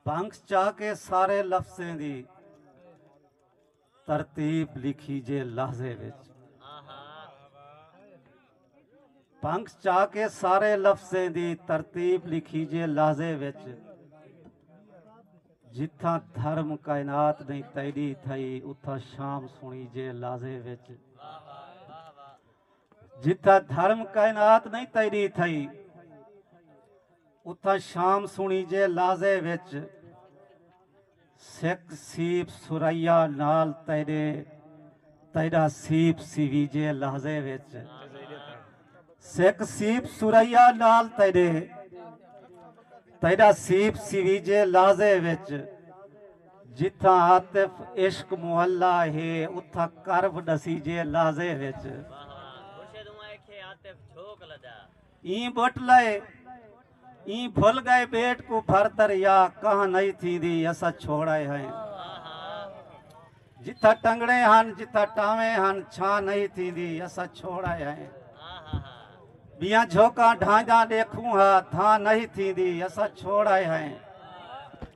بھنگ چا کے سارے لفظیں دی ترتیب لکھی جے لحظے وچ بھنگ چا کے سارے لفظیں دی ترتیب لکھی جے لحظے وچ جتھاں دھرم کائنات نہیں تیڈی تھئی اتھاں شام سنی جے لازے وچ جتھاں دھرم کائنات نئیں تیری تھئی اتھاں شام سنی جے لازے وچ سکھ سیپ سریا نال تیرے تیرا سیپ سیوی جے لازے وچ سکھ سیپ سریا نال تیرے تیرا سیپ سیوی جے لازے وچ جتھاں عاطف عشق محلہ ہے اتھاں کرب ڈسیجے لازے وچ ایں بٹ لئے ایں بھل گئے بیٹ کو بھر دریا کہاں نہیں تھی دی اسا چھوڑائے ہیں جتھا ٹنگڑے ہن جتھا ٹاویں ہن چھاں نہیں تھی دی اسا چھوڑائے ہیں بیاں جھوکاں ڈھانجاں دیکھوں ہا دھاں نہیں تھی دی اسا چھوڑائے ہیں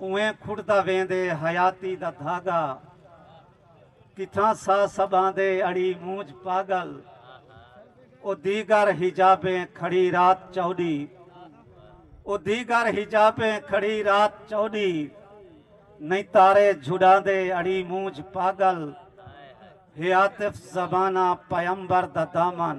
اونویں کھڑدا ویندے حیاتی دا دھاگا کتھاں سا سبھاندے اڑی مونجھ پاگل او دیگر حجابیں کھڑی رات چوݙی او دیگر حجابیں کھڑی رات چوݙی نئیں تارے جھڈاندے اڑی مونجھ پاگل ہے عاطف زمانہ پیمبر دا دامن